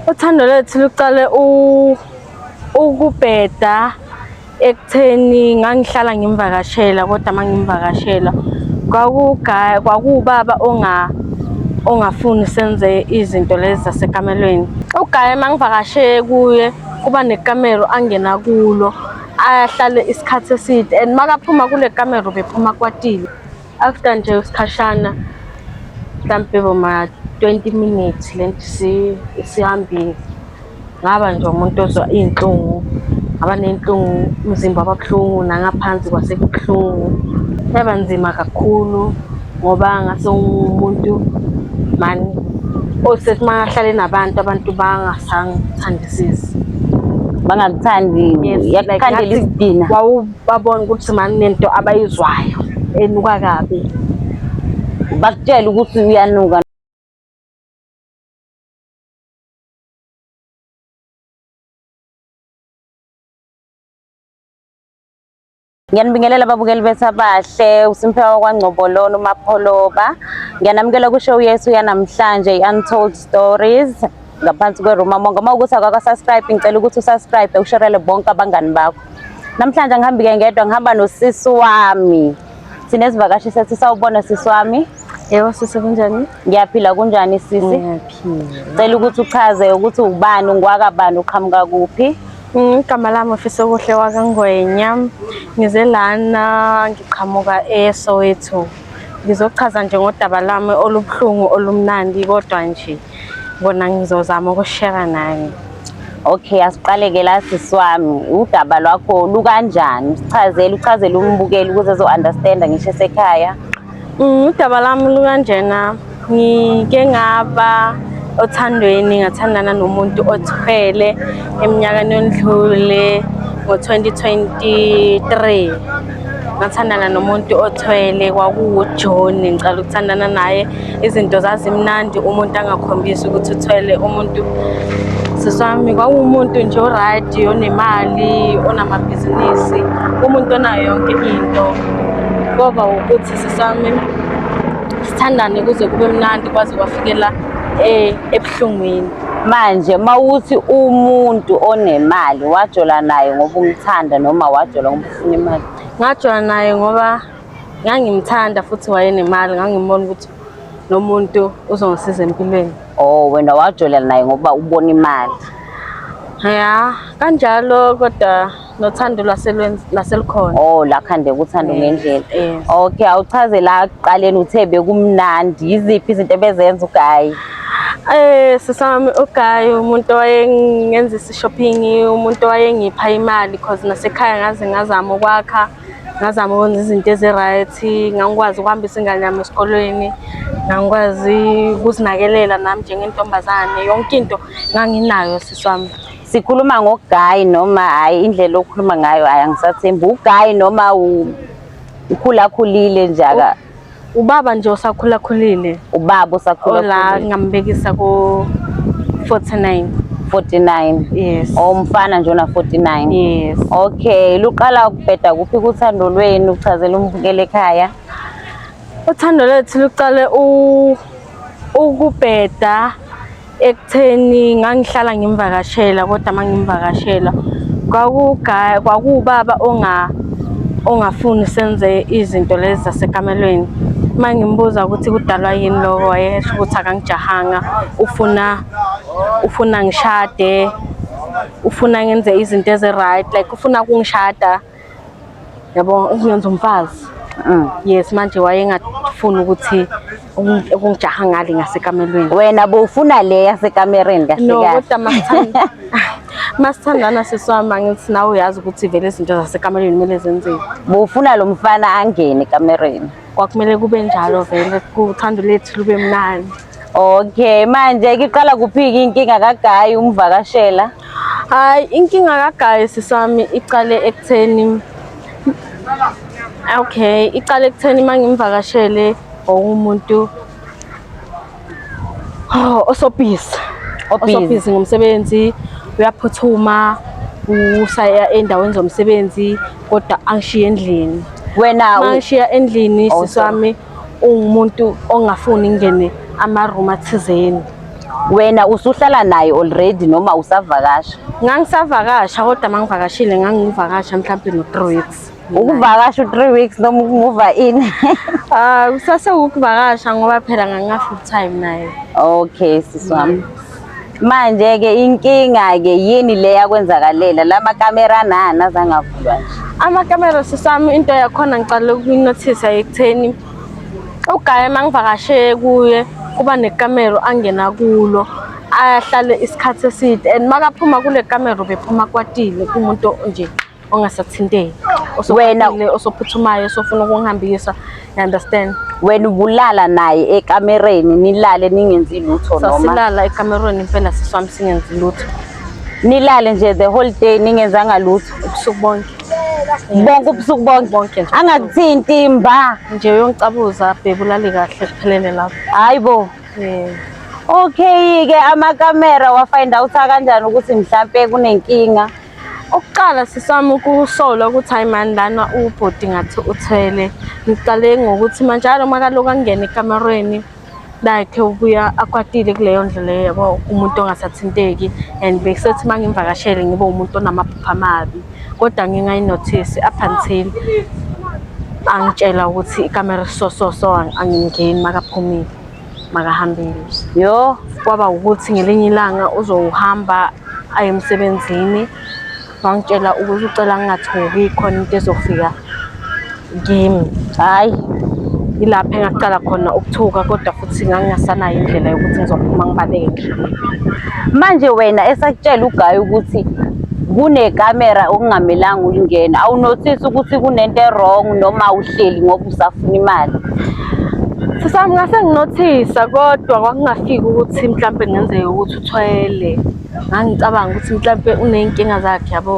Uthando lethu luqale ukubheda ekutheni ngangihlala ngimvakashela kodwa mangimvakashela kwakugaya kwakubaba onga ongafuni senze izinto lezi zasekamelweni ugaya mangivakashe kuye kuba nekamero angena kulo ahlale isikhathi eside and makaphuma kule kamero bephuma kwatile after nje isikhashana mhlampe boma 20 minutes lento isihambile ngaba nje umuntu ozwa iy'nhlungu ngaba ney'nhlungu umzimba wababuhlungu nangaphansi kwasebuhlungu yaba nzima kakhulu ngoba ngase umuntu mani osethi uma ahlale nabantu abantu bangasangithandisisi bangakuthandiyakukhandela isidina babona ukuthi mani nento abayizwayo enuka kabi bakutshela ukuthi uyanuka Ngiyanibingelela ababukeli bethu abahle uSimphewa kwaNgcobololo uMapholoba. Ngiyanamukela kushow yethu yanamhlanje i-Untold Stories. ngaphansi kweruma monga uma ukuthi akakasubscribe ngicela ukuthi usubscribe usherele bonke abangani bakho namhlanje ngihambike ngedwa ngihamba nosisi wami sinezivakashi sethi sawubona sisi wami Yebo sisi kunjani? Ngiyaphila kunjani sisi? Ngiyaphila. Cela ukuthi uchaze ukuthi ubani ungwaka bani uqhamuka kuphi? Mm, igama lami ofisa okuhle wakangwenya ngize lana ngiqhamuka eSoweto ngizochaza nje ngodaba lami olubuhlungu olumnandi kodwa nje Kona ngizozama ukushare nani. Okay, asiqaleke la sisi wami. Udaba lwakho lukanjani? Sichazele, uchazele umbukeli ukuze ezo-understanda ngisho esekhaya. Mm, udaba lami lukanjena ngike ngaba othandweni ngathandana nomuntu othwele eminyakeni yondlule ngo-2023 ngathandana nomuntu othwele kwakuwujohn ngicala ukuthandana naye izinto zazimnandi umuntu angakhombisi ukuthi uthwele umuntu siswami kwakuwumuntu nje oraydi onemali onamabhizinisi umuntu onayo yonke into kwaba ukuthi siswami sithandane kuze kube mnandi kwaze kwafikela eh, ebuhlungwini manje mawuthi umuntu onemali wajola naye ngoba umthanda noma wajola ngoba nemali ngajoyina naye ngoba ngangimthanda futhi wayenemali ngangimona ukuthi nomuntu uzongisiza empilweni oh wena wajolela naye ngoba ubona imali ya kanjalo kodwa nothando lwaselukhona oh la khande kuthanda eh, ngendlela eh. okay awuchaze la kuqaleni uthe bekumnandi yiziphi izinto ebezenza ugayi eh sisami ugayi umuntu owayengenza Shopping umuntu wayengipha imali because nasekhaya ngaze ngazama ukwakha ngazama ukwenza izinto ezi-right ngangikwazi ukuhambisa ingane yami esikolweni ngangikwazi ukuzinakelela nami njengentombazane yonke into nganginayo sisi wami sikhuluma ngogayi noma hhayi indlela okhuluma ngayo hhayi angisathembi ugayi noma ukhulakhulile njaka Ubaba nje osakhulakhulile. Ubaba osakhulakhulile. Ola ngambekisa ko 49. 49. Yes. Omfana nje ona 49. Yes. Okay, luqala ukubheda kuphi kuthando lweni uchazela umbukele ekhaya? Uthando lethu luqale u ukubheda ekutheni ngangihlala ngimvakashela kodwa uma ngimvakashela kwakuwubaba ongafuni senze izinto lezi zasekamelweni uma ngimbuza ukuthi kudalwa yini loko wayesho ukuthi akangijahanga ufuna ufuna ngishade ufuna ngenze izinto ezi-right like ufuna kungishada yabo ukungenza umfazi Mm. yes manje wayengafuni ukuthi ukungi- ukungijaha ngale ngasekamelweni wena bowufuna le yasekamereni kahle no kahle kodwa masithanda- masithandana siswami angithi nawe uyazi ukuthi vele izinto zasekamelweni kumele zenzeke bowufuna lo mfana angene ekamereni kwakumele kube njalo vele kuthando lethu lube mnandi Okay, manje iqala kuphi-ke inkinga kagayi umvakashela? Hayi, inkinga kagayi sisami iqale ekutheni Okay, iqale ekutheni mangimvakashele umuntu oh, osobhizi. Osobhizi ngomsebenzi, uyaphuthuma usaya endaweni zomsebenzi kodwa angishiye endlini. Wena angishiya endlini oh, sisami ungumuntu ongafuni ngene ama-room athizeni wena usuhlala naye already noma usavakasha ngangisavakasha kodwa uma ngivakashile ngangivakasha mhlawumbe no-three weeks ukuvakasha u-three weeks noma ukumuva in Ah, kusase ukuvakasha ngoba phela ngangina full time naye. Okay sisi wami. Manje-ke inkinga-ke yini le yakwenzakalela la makamera nani azange avulwa nje amakamera sisami into yakhona ngicale ukuyinothisa ekutheni ugaye uma ngivakashe kuye kuba nekamero angena kulo ahlale isikhathi eside and makaphuma kule kamero bephuma kwatile kumuntu nje ongasathinteki wena osophuthumayo osofuna ukungihambisa you understand wena ubulala naye ekamereni nilale ningenzi lutho noma sasilala ekamereni impela siswami singenzi lutho nilale nje the whole day ningenzanga lutho ubusuku bonke bonke ubusuku bonke bonke nje angakuthinti mba nje uyongicabuza bebulali kahle kuphelele lapho hayibo yeah okay ke amakamera wafind out kanjani ukuthi mhlambe kunenkinga Ukuqala sisami ukusola ukuthi hayi mani lana ubhuti ngathi uthwele. Ngiqale ngokuthi manje alo makaloku angene ekamerweni like ubuya akwatile kuleyo ndlela leyo yabo umuntu ongasathinteki and bekusethi uma ngimvakashele ngibe umuntu onamaphupha amabi kodwa ngingayinothisi up until angitshela ukuthi ikamera so so so angingeni makaphumile makahambile yo kwaba ukuthi ngelinye ilanga uzowuhamba aye emsebenzini wangitshela ukuthi ucela ngingathuki khona into ezofika kimi hhayi yilapho engaqala khona ukuthuka kodwa futhi ngangingasanayo indlela yokuthi ngizophuma ngibaleke manje wena esakutshela ugayi ukuthi kunekamera okungamelanga ulingena awunothisi ukuthi kunento erong noma uhleli ngoba usafuna imali sisami ngase nginothisa kodwa kwakungafiki ukuthi mhlawumbe kungenzeka ukuthi uthwele ngangicabanga ukuthi mhlawumbe uney'nkinga zakhe yabo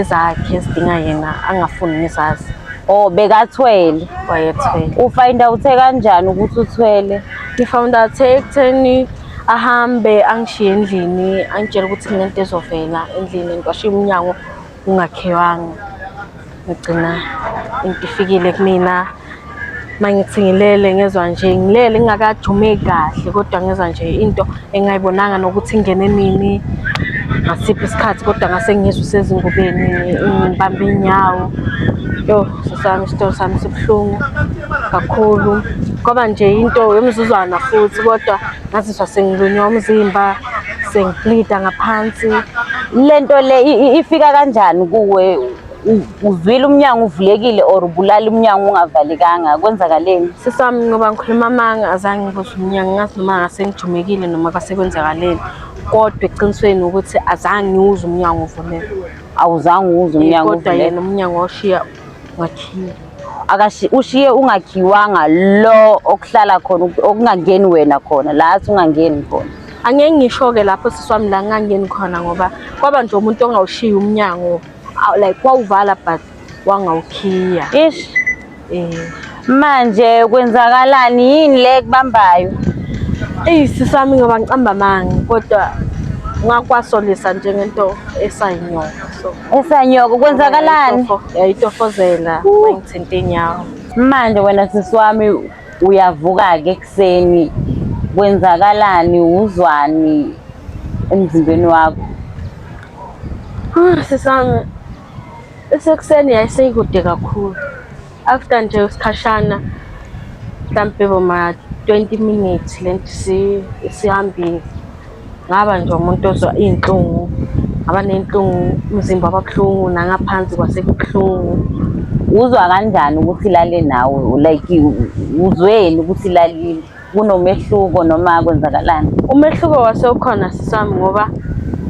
ezakhe ezidinga yena angafuni ngizazi Oh bekathwele. Wayethwele. Ufind out kanjani ukuthi uthwele? Ngifound out ekutheni ahambe angishiye endlini angitshela ukuthi kunento ezovela endlini ngiwashiye umnyango ungakhewanga ngigcina into ifikile kumina uma ngithi ngilele ngezwa nje ngilele ngingakajumeki kahle kodwa ngezwa nje into engayibonanga nokuthi ingene nini ngasiphi isikhathi kodwa ngase ngizwe usezingubeni ngibambe inyawo yo sesami isitolo sami sibuhlungu kakhulu kwaba nje into yomzuzwana futhi kodwa ngazizwa sengilunywa umzimba sengiplida ngaphansi lento le ifika kanjani kuwe uzwile umnyango uvulekile or ubulala umnyango ungavalekanga kwenzakaleni sisami ngoba ngikhuluma amanga azange ngibuze umnyango ngazi noma ngase ngijumekile noma kwasekwenzakaleni kodwa eqinisweni ukuthi azange ngiwuze umnyango uvuleke awuzange uwuze umnyango kodwa yena umnyango washiya wakhiwe akashi ushiye ungakhiwanga lo okuhlala khona okungangeni wena khona la athi ungangeni khona angeke ngisho-ke lapho sisi wami la ngingangeni khona ngoba kwaba nje umuntu ongawushiyi umnyango like wawuvala but wangawukhiya ish eh manje kwenzakalani yini le kubambayo eyi sisi wami ngoba ngicamba amanga kodwa ngakwasolisa nje ngento esayinyoka so Esanyoko kwenzakalani? Yayitofozela wayengithinta inyawo. Manje wena sisi wami uyavuka ke ekuseni kwenzakalani uzwani emzimbeni wakho? Ah sisami esekuseni yayiseyikude kakhulu. After nje isikhashana mhlampe boma 20 minutes lento isihambile ngaba nje umuntu ozwa iy'nhlungu ngaba ney'nhlungu umzimba wababuhlungu nangaphansi kwasebuhlungu uzwa kanjani ukuthi ilale nawe like uzweni ukuthi ilalile kunomehluko noma kwenzakalani umehluko wase ukhona sisami ngoba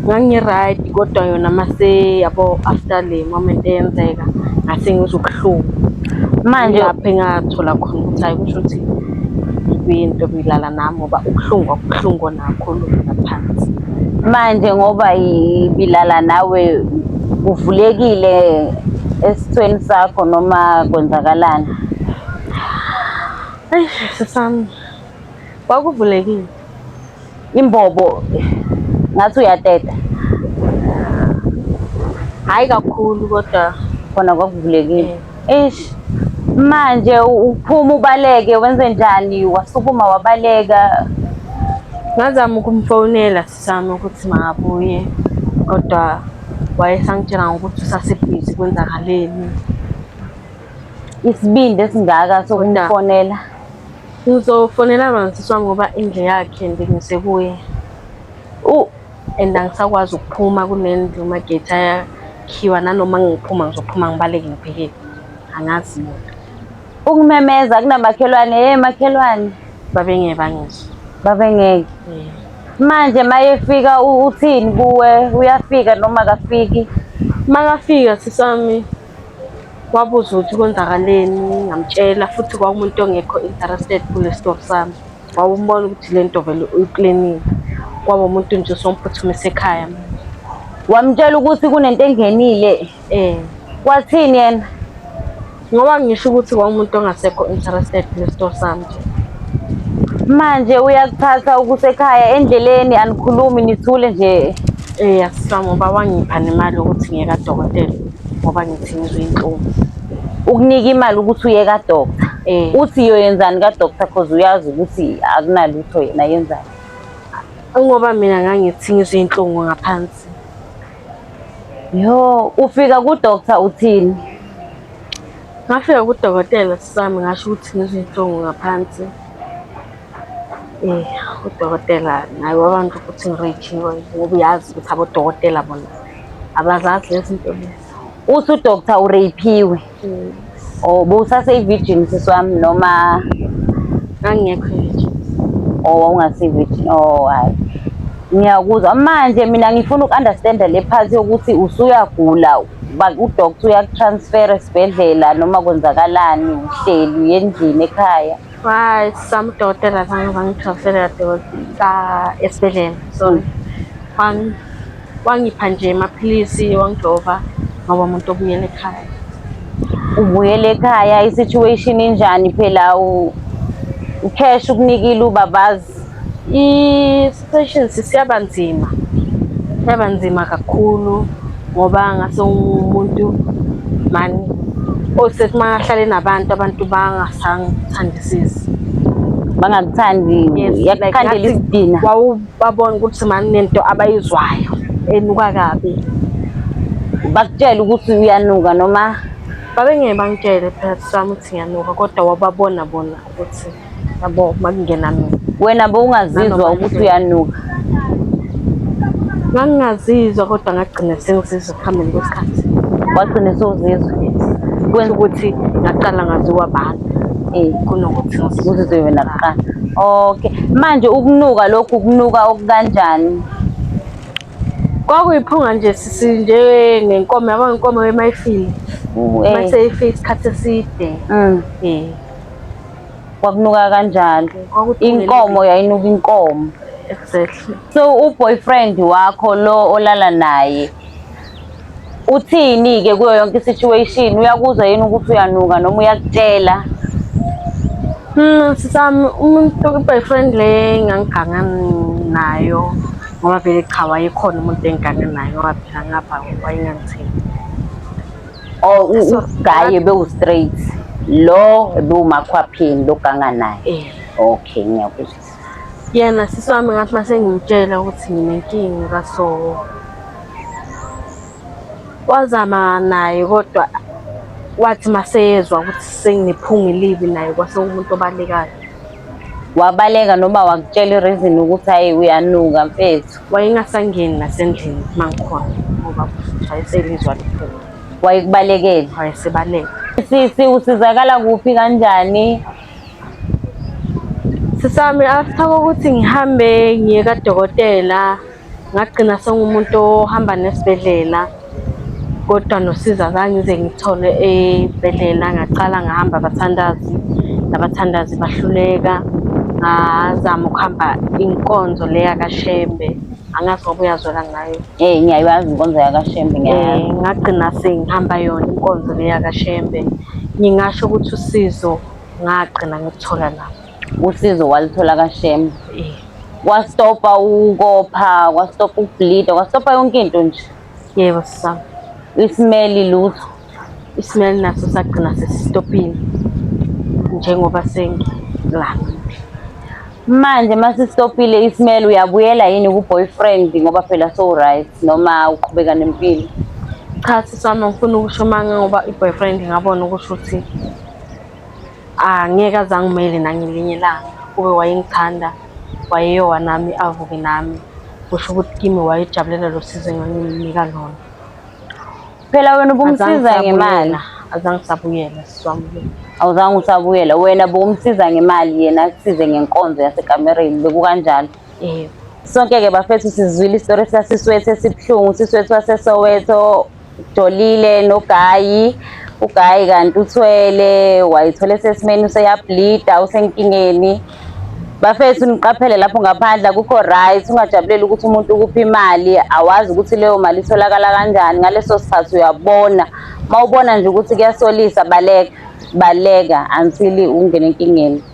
ngangi-right kodwa yona mase yabo after le moment eyenzeka ngase ngizwa ubuhlungu manje lapho engathola khona ukuthi hayi kusho ukuthi kuyinto bilala nami ngoba ubuhlungu akubuhlungu onakhulu ngaphansi manje ngoba ibilala nawe uvulekile esithweni sakho noma kwenzakalani Eyi sisami kwakuvulekile imbobo ngathi uyateta hhayi kakhulu kodwa khona kwakuvulekile eish manje uphuma ubaleke wenze njani wasukuma wabaleka ngazama ukumfonela sisami ukuthi makabuye kodwa wayesangitshela ngokuthi usasebhizi kwenzakaleni isibindi esingaka sokumfonela ngizofonela mansiswa ngoba indle yakhe ndingise kuye and angisakwazi ukuphuma kunendlu magethi ayakhiwa nanoma ngiphuma ngizophuma ngibaleke ngibhekele angazi muntu ukumemeza kunamakhelwane hey makhelwane babengeke bangizwe babengeke manje mayefika uthini kuwe uyafika noma kafiki makafika sisami Wabuza ukuthi kwenzakaleni, ngamtshela futhi kwakumuntu ongekho interested kule story sami. Wawumbona ukuthi le nto vele uyiplenile. Kwaba umuntu nje osomphuthumise ekhaya manje. Wamtshela ukuthi kunento engenile. Eh, Wathini yena? ngoba ngisho ukuthi kwakumuntu ongasekho interested kule story sami nje. Manje uyakuthatha ukusekhaya endleleni anikhulumi nithule nje. Eh asisam uba wangipha nemali ukuthi ngiye kadokotela ngoba ngithi ngizwe inhlungu. Ukunika imali ukuthi uye ka doctor. Eh. Uthi yoyenzani ka doctor because uyazi ukuthi akunalutho yena yenzani. Ngoba mina ngangithi ngizwe inhlungu ngaphansi. Yo, ufika ku doctor uthini? Ngafika kudokotela sisami ngasho ukuthi ngizwe inhlungu ngaphansi. Eh, udokotela naye wabantu ukuthi ngirejinwe ngoba uyazi ukuthi abodokotela bona abazazi lezi zinto lezi. Uthi udokta ureyiphiwe. Mm. Oh, bowusaseyi-virgin sisi wami noma Ngangingekho virgin. oh wawungasiyi-virgin. Oh hayi. Ngiyakuzwa manje mina ngifuna uku-understanda le part yokuthi usuyagula ba- udokta uyakutransfera esibhedlela noma kwenzakalani uhleli endlini ekhaya. Hayi samdokotela zange bangithwasele kadokotela esibhedlela so wangipha nje amaphilisi wangijova ngoba umuntu obuyela ekhaya ubuyela ekhaya i-situation injani phela ucash ukunikile ubabazi I-situation sisiyaba nzima, yaba nzima kakhulu ngoba ngase umuntu mani osethi uma ahlale nabantu abantu bangasangithandisisi bangakuthangi yakukhandela isidina wawubabona ukuthi mani nento abayizwayo enuka kabi bakutshela ukuthi uyanuka noma babengeke bangitshele phela sami ukuthi ngiyanuka kodwa wababona bona ukuthi yabo makungena mina wena bowungazizwa ukuthi uyanuka ngangingazizwa kodwa ngagcina sengizizwa ekuhambeni kwesikhathi wagcine sewuzizwa kwenza ukuthi ngaqala ngaziwa abantu um kunokuthi uzizwe wena kuqala okay manje ukunuka lokhu kunuka okukanjani kwakuyiphunga nje sisi nje ngenkomo yabo ngenkomo emayifile eh. maseyifile isikhathi eside um kwakunuka kanjalo Kwakuthungela inkomo yayinuka inkomo exactly so uboyfriend wakho lo olala naye uthini ke kuyo yonke isituation uyakuzwa yini ukuthi uyanuka noma uyakutshela Hmm, sisami umuntu boyfriend le ngangiganga nayo ngoba vele cha wayekhona umuntu engigange naye ngoba phela ngapha wayengangithembi Oh ugaye bewu straight. Lo bewumakhwaphini loganga naye. Eh. Okay ngiyakuzwa. Yena sisi wami ngathi mase ngimtshela ukuthi nginenkinga kaso. Wazama naye kodwa wathi maseyezwa ukuthi senginephunga elibi naye kwase umuntu obalekayo. Wabaleka noma wakutshela ireason ukuthi hayi uyanuka mfethu. wayengasangeni nasendlini mangikhona ngoba wayeselizwa liphuma wayekubalekele wayesebaleka sisi usizakala kuphi kanjani sisami after kokuthi ngihambe ngiye kadokotela ngagcina sengumuntu ohamba nesibhedlela kodwa nosiza zange ngize ngithole ebhedlela ngaqala ngahamba abathandazi nabathandazi bahluleka ngazama ukuhamba inkonzo le yakashembe angazi ngoba uyazwela ngayo eh ngiyayazi inkonzo yakashembe ngiyayazi eh, ngagcina sengihamba yona inkonzo le yakashembe ngingasho ukuthi usizo ngagcina ngikuthola lapho usizo walithola kashema kwastopa ukopha kwastopa ukubleeda kwastopa yonke into nje yebo sisama isimeli lutho isimeli naso sagcina sesistopile njengoba sengilana manje masisitopile isimeli uyabuyela yini ku-boyfriend ngoba phela so-right noma uqhubeka nempilo cha sisama ngifuna ukusho manga ngoba i-boyfriend ngabona ukusho ukuthi angeke ah, azangimele nangelinye ilanga kube wayengithanda wayeyowa nami avuke nami kusho ukuthi kimi wayejabulela lo sizo enganginika lona phela wena ubumsiza ngemali azange sabuyela siswamukile awuzange usabuyela wena bokumsiza ngemali yena akusize ngenkonzo yasekamereni bekukanjalo Eh, Sonke-ke bafethu sizwile isitori sasiswethu esibuhlungu usiswethu wasesoweto jolile nogayi ugayi kanti uthwele wayithole sesimeni useyablida usenkingeni bafethu niqaphele lapho ngaphandle akukho right ungajabuleli ukuthi umuntu ukupha imali awazi ukuthi leyo mali itholakala kanjani ngaleso sikhathi uyabona uma ubona nje ukuthi kuyasolisa baleka baleka until ungene enkingeni